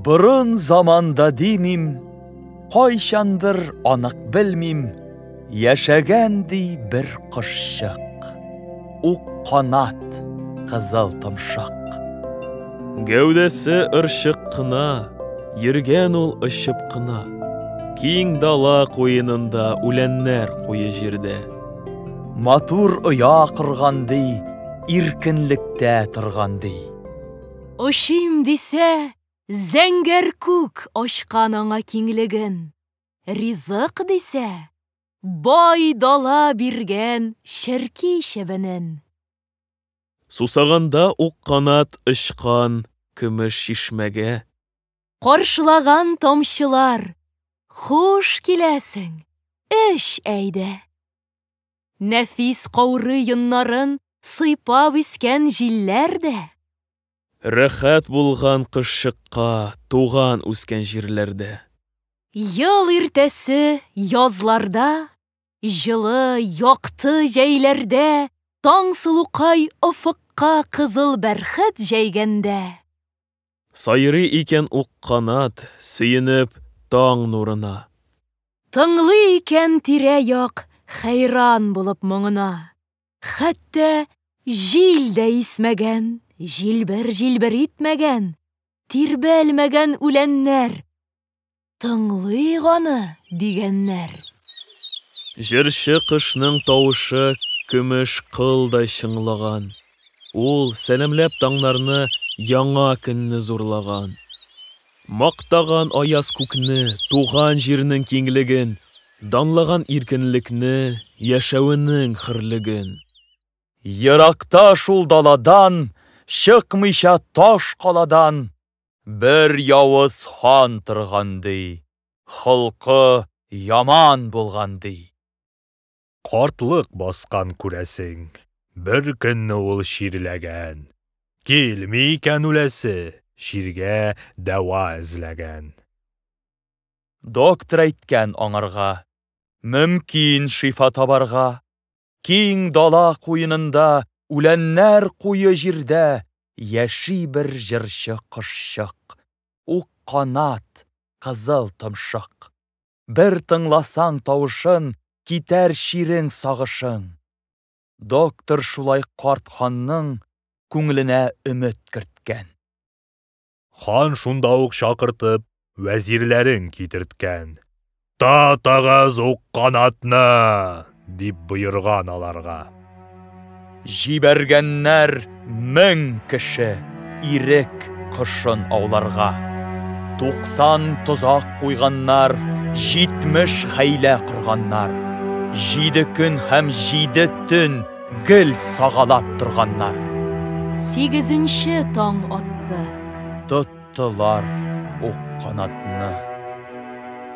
Борын заманда димим, кайчандыр анык белмим, Яшәгән ди бер кошчык, ук канат, кызыл томшык. Гәүдәсе ырчык кына, йөргән ул очып кына. Киң дала куенында үләннәр куе җирдә. Матур оя корган ди, иркенлектә торган ди. Очыйм дисә, зәңгәр күк ачкан аңа киңлеген. Ризык дисә, бай дала биргән черки чебенен. Сусаганда ук канат очкан көмеш чишмәгә. Каршылаган тамчылар, хуш киләсең, эч әйдә. Нәфис каурый йоннарын сыйпап искән җилләр дә. Рәхәт булган кышчыкка туган үскән җирләрдә. Ел иртәсе язларда, җылы, якты җәйләрдә Таңсылукай офыкка кызыл бәрхет җәйгәндә. Сайрый икән ук канат, сөенеп таң нурына. Тыңлый икән тирә-як хәйран булып моңына. Хәтта җил дә исмәгән, җилбер-җилбер итмәгән, тирбәлмәгән үләннәр. Тыңлыйк аны, дигәннәр. Җырчы кошның тавышы көмеш кылдай чыңлаган. Ул, сәламләп таңнарны, яңа көнне зурлаган. Мактаган аяз күкне, туган җирнең киңлеген. Данлаган иркенлекне, яшәвенең хөрлеген. Еракта шул даладан, чыкмыйча таш каладан, бер явыз хан торган, ди, холкы яман булган, ди. Картлык баскан, күрәсең, беркөнне ул чирләгән, килми икән үләсе, чиргә дәва эзләгән. Доктор әйткән аңарга, Мөмкин шифа табарга, Киң дала куенында Үләннәр куе җирдә Яши бер җырчы кошчык, Ук канат, кызыл томшык. Бер тыңласаң тавышын, Китәр чирең сагышың. Доктор шулай карт ханның Күңеленә өмет керткән. Хан шунда ук чакыртып, вәзирләрен китерткән. Татыгыз ук канатны! дип боерган аларга. Җибәргәннәр мең кеше ирек кошын ауларга. Туксан тозак куйганнар, җитмеш хәйлә корганнар. Җиде көн һәм җиде төн Гел сагалап торганнар. Сигезенче таң атты. Тоттылар ук канатны.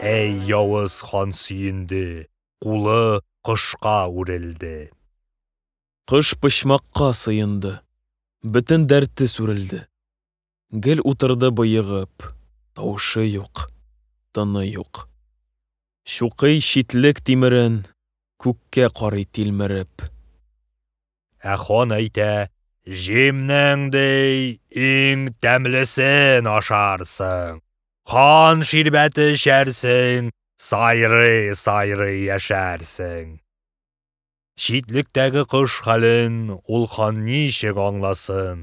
Әй явыз хан сөенде, кулы кошка үрелде. Кыш почмакка сыенды, бөтен дәрте сүрелде. Гел утырды боегып, тавышы юк, тыны юк. Чукый читлек тимерен, күккә карый тилмереп. Ә хан әйтә, Җимнең, ди, иң тәмлесен ашарсың. Кан ширбәте эчәрсең, сайрый-сайрый яшәрсең. Читлектәге кош хәлен ул хан ничек аңласын?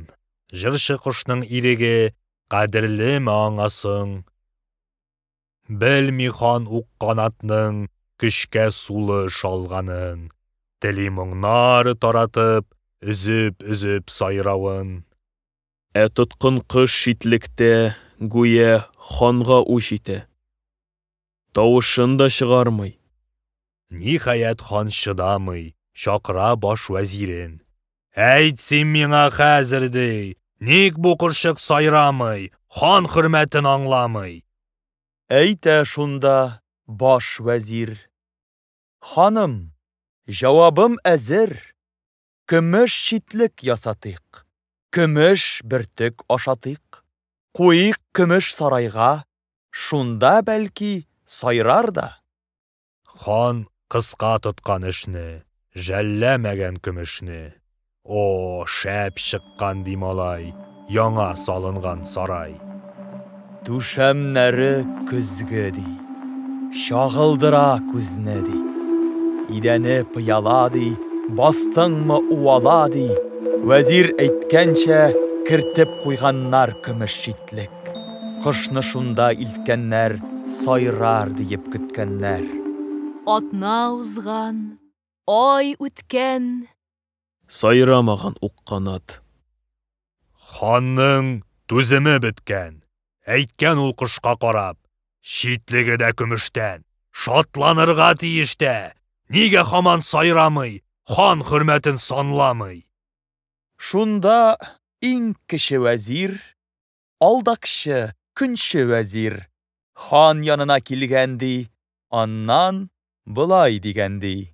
Җырчы кошның иреге кадерлеме аңа соң? Белми хан ук канатның көчкә сулы шалганын, тели моңнар таратып, өзеп-өзеп сайравын. Ә тоткын кош читлектә, гүя, ханга үч итә. Тавышын да чыгармый. Ниһаять, хан чыдамый, чакыра баш вәзирен. Әйт син миңа хәзер, ди, ник бу кошчык сайрамый, хан хөрмәтен аңламый? Әйтә шунда баш вәзир. Ханым, җавабым әзер. Көмеш читлек ясатыйк. Көмеш бөртек ашатыйк. Куйыйк көмеш сарайга, Шунда, бәлки, сайрар да. Хан кыска тоткан эшне, Жәлләмәгән көмешне. О, шәп чыккан, ди малай. Яңа салынган сарай. Түшәмнәре көзге, ди. Чагылдыра күзне, ди. Идәне пыяла, ди, бастыңмы уала, ди. Вәзир әйткәнчә, кертеп куйганнар көмеш читлек. Кышны шунда илткәннәр, сайрар диеп көткәннәр. Атна узган, ай үткән. Сайрамаган ук канат. Ханның түземе беткән. Әйткән ул кошка карап, Читлеге дә көмештән. Шатланырга тиеш тә! Нигә хаман сайрамый, Хан хөрмәтен санламый? Шунда иң кече вәзир, Алдакчы, көнче вәзир, Хан янына килгән, ди, Аннан болай дигән, ди.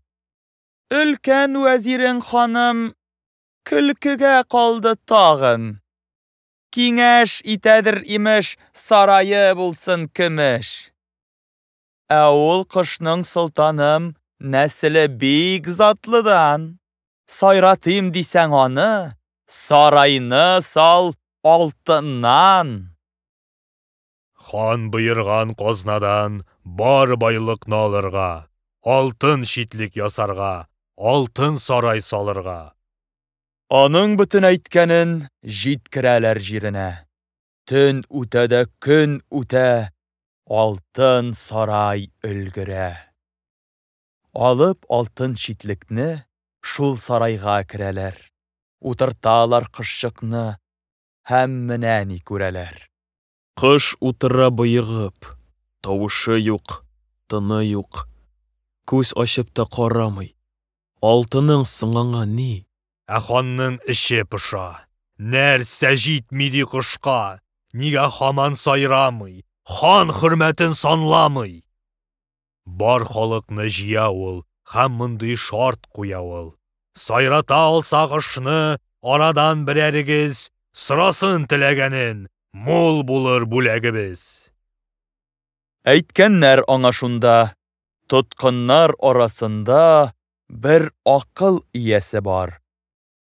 Өлкән вәзирең ханым көлкегә калды тагын. Киңәш итәдер, имеш, сарае булсын көмеш. Ә ул кошның солтаным нәселе бик затлыдан. Сайратыйм дисәң аны, сарайны сал алтыннан. Хан боерган казнадан бар байлыкны алырга, алтын читлек ясарга, алтын сарай салырга. Аның бөтен әйткәнен җиткерәләр җиренә. Төн үтә дә көн үтә, алтын сарай өлгерә. Алып алтын читлекне, шул сарайга керәләр. Утырталар кошчыкны, һәм менә ни күрәләр. Кош утыра боегып, тавышы юк, тыны юк. Күз ачып та карамый. Алтының соң аңа ни? Ә ханның эче поша. Нәрсә җитми ди кошка? Нигә һаман сайрамый? Хан хөрмәтен санламый! Бар халыкны җыя ул һәм мондый шарт куя ул, Сайрата алсак ышны, арадан берәрегез Сорасын теләгәнен, мул булыр бүләгебез. Әйткәннәр аңа шунда, Тоткыннар арасында бер акыл иясе бар,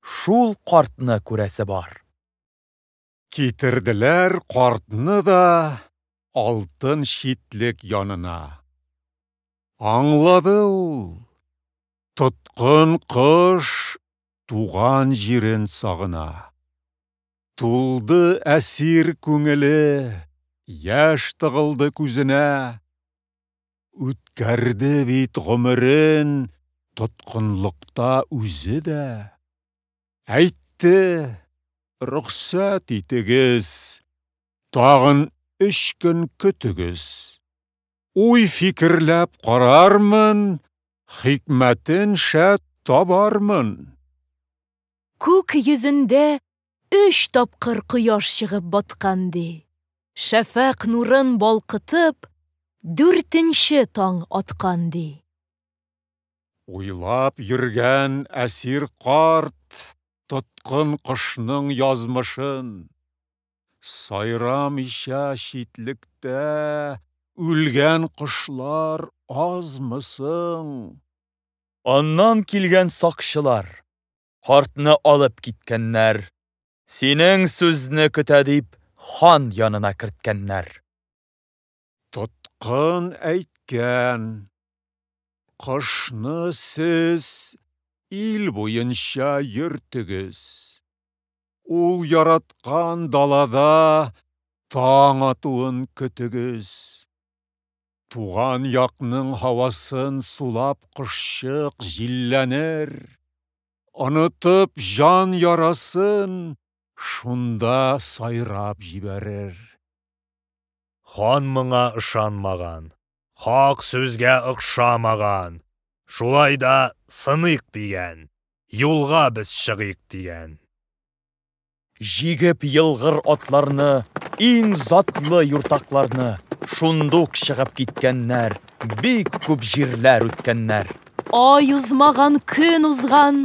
Шул картны күрәсе бар. Китерделәр картны да алтын читлек янына. Аңлады ул, тоткын кош туган җирен сагына. Тулды әсир күңеле, яшь тыгылды күзенә. Үткәрде бит гомерен тоткынлыкта үзе дә. Әйтте, Рөхсәт итегез, тагын өч көн көтегез. Уй-фикерләп карармын, хикмәтен шәт табармын. Күк йөзендә өч тапкыр кояш чыгып баткан, ди. Шәфәкъ нурын балкытып, дүртенче таң аткан, ди. Уйлап йөргән әсир карт тоткын кошның язмышын. Сайрамыйча читлектә үлгән кошлар азмы соң? Аннан килгән сакчылар картны алып киткәннәр. Синең сүзне көтә дип хан янына керткәннәр. Тоткын әйткән, кышны сез ил буенча йөртегез. Ул яраткан далада таң атуын көтегез. Туган якның һавасын сулап кошчык җилләнер, онытып җан ярасын шунда сайрап җибәрер. Хан моңа ышанмаган, хак сүзгә охшамаган. Шулай да сыныйк дигән, юлга без чыгыйк дигән. Җигеп елгыр атларны, иң затлы юртакларны, шундук чыгып киткәннәр, бик күп җирләр үткәннәр. Ай узмаган, көн узган.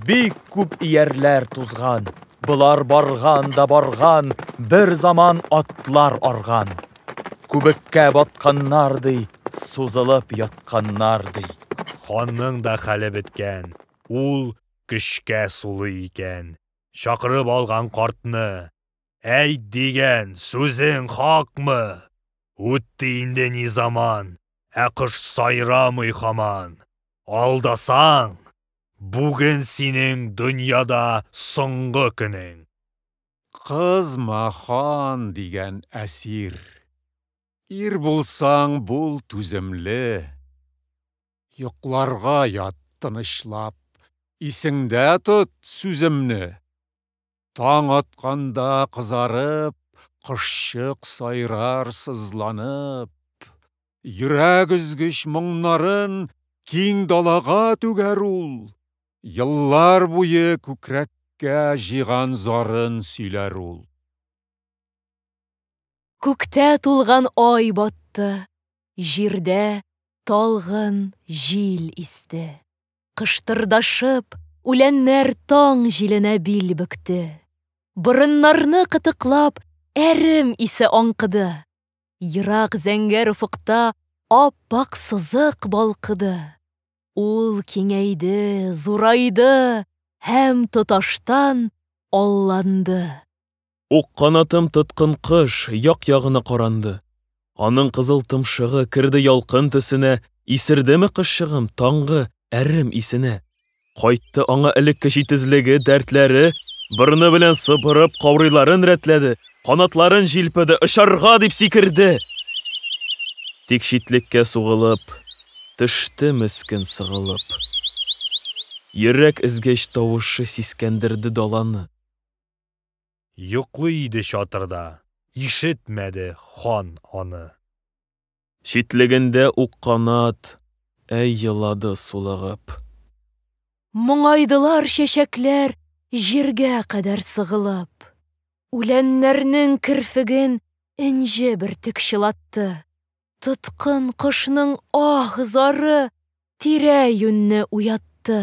Бик күп иярләр тузган. Болар барган да барган, бер заман атлар арган. Күбеккә батканнар ди, сузылып ятканнар ди. Ханның да хәле беткән, ул көчкә сулый икән. Чакырып алган картны. Әйт дигән, сүзең хакмы? Үтте инде ни заман, Ә кош сайрамый хаман. Алдасаң, бүген синең Дөньяда соңгы көнең. Кызма, хан дигән әсир. Ир булсаң, бул түземле. Йокларга ят тынычлап, Исеңдә тот сүземне. Таң атканда кызарып, Кошчык сайрар сызланып. Йөрәк өзгеч моңнарын Киң далага түгәр ул. Еллар буе күкрәккә Җыйган зарын сөйләр ул. Күктә тулган ай батты, Җирдә талгын җил исте. Кыштырдашып, үләннәр таң җиленә бил бөкте. Борыннарны кытыклап, әрем исе аңкыды. Ерак зәңгәр офыкта ап-ак сызык балкыды. Ул киңәйде, зурайды һәм тоташтан алланды. Ук канатын тоткын кош як-ягына каранды. Аның кызыл томшыгы керде ялкын төсенә, исердеме кышчыгым таңгы әрем исенә. Кайтты аңа элекке җитезлеге, дәртләре, борыны белән сыпырып, каурыйларын рәтләде, канатларын җилпеде, очарга дип сикерде. Тик читлеккә сугылып, төште мескен сыгылып. Йөрәк өзгеч тавышы сискәндерде даланы. Йоклый иде чатырда, ишетмәде хан аны. Читлегендә ук канат, әй елады сулыгып. Моңайдылар чәчәкләр җиргә кадәр сыгылып. Үләннәрнең керфеген энҗе бөртек чылатты. Тоткын кошның аһ-зары тирә-юньне уятты.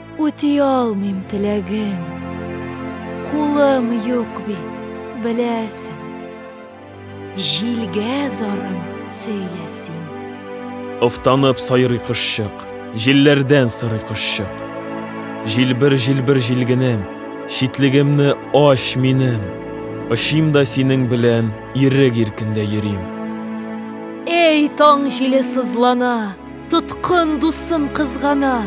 Үти алмыйм теләгең, кулым юк бит, беләсең. Җилгә зарым сөйлә син. Офтанып сайрый кошчык, җилләрдән сырый кошчык. Җилбер, җилбер җилгенем, читлегемне ач минем. Очим да синең белән ирек иркендә йөрим. Эй, таң җиле сызлана, Тоткын дусын кызгана,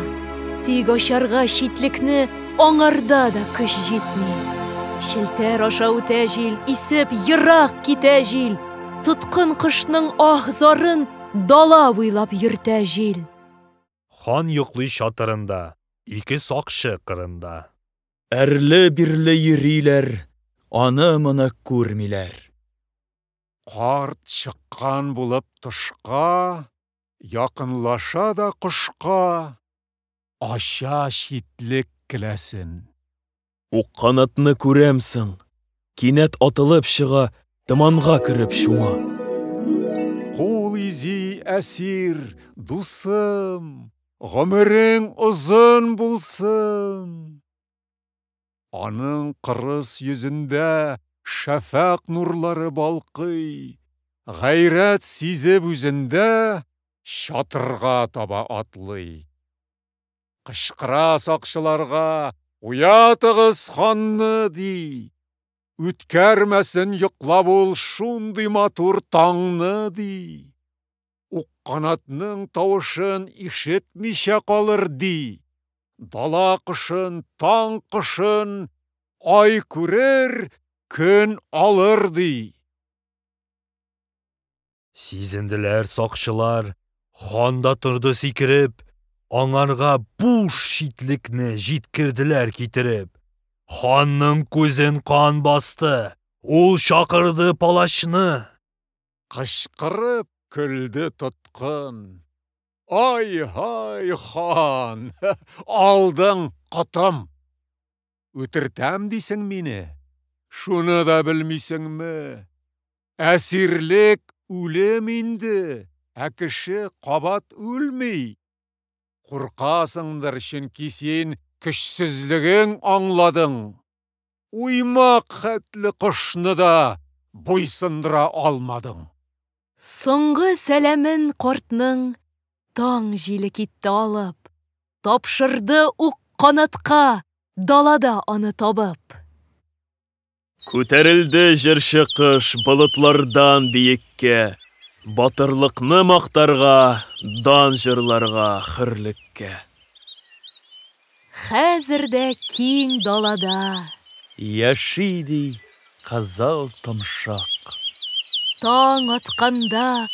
тик ачарга читлекне аңарда да көч җитми. Челтәр аша үтә җил, исеп ерак китә җил. Тоткын кошның аһ зарын дала буйлап йөртә җил. Хан йоклый чатырында, ике сакчы кырында. Әрле-бирле йөриләр, аны-моны күрмиләр. Карт чыккан булып тышка. Якынлаша да кошка ача читлек келәсен. Укканатны күрәм соң, кинәт атылып чыга, томанга кереп чума. Кул изи, әсир, дусым, гомерең озын булсын! Аның кырыс йөзендә шәфәкъ нурлары балкый, гайрәт сизеп үзендә чатырга таба атлый. Кычкыра сакчыларга, Уятыгыз ханны! ди. Үткәрмәсен йоклап ул шундый матур таңны! ди. Укканатның тавышын ишетмичә калыр, ди. Дала кошын, таң кошын ай күрер, көн алыр, ди. Сизенделәр сакчылар, хан да торды сикереп, аңарга буш читлекне җиткерделәр китереп. Ханның күзен кан басты, ул чакырды палачны. Кычкырып көлде тоткын. Ай-һай, хан, алдың котым! Үтертәм дисең мине? Шуны да белмисеңме? Әсирлек үлем инде, ә кеше кабат үлми. Куркасыңдыр, чөнки син көчсезлегең аңладың. Уймак хәтле кошны да буйсындыра алмадың. Соңгы сәламен картның таң җиле китте алып, Тапшырды ук канатка далада аны табып. Күтәрелде җырчы кош болытлардан биеккә, Батырлыкны мактарга, дан җырларга хөрлеккә. Хәзер дә киң далада. Яши, ди, кызыл томшык. Таң атканда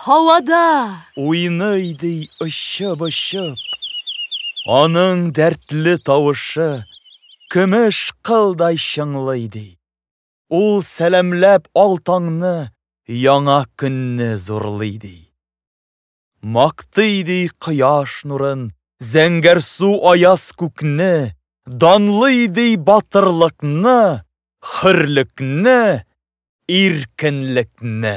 һавада. Уйный, ди, очып-очып. Аның дәртле тавышы. Көмеш кылдай чыңлый, ди. Ул сәламләп ал таңны. Яңа көнне зурлый, ди. Мактый, ди, кояш нурын, Зәңгәр су аяз күкне, Данлый, ди, батырлыкны, Хөрлекне, иркенлекне.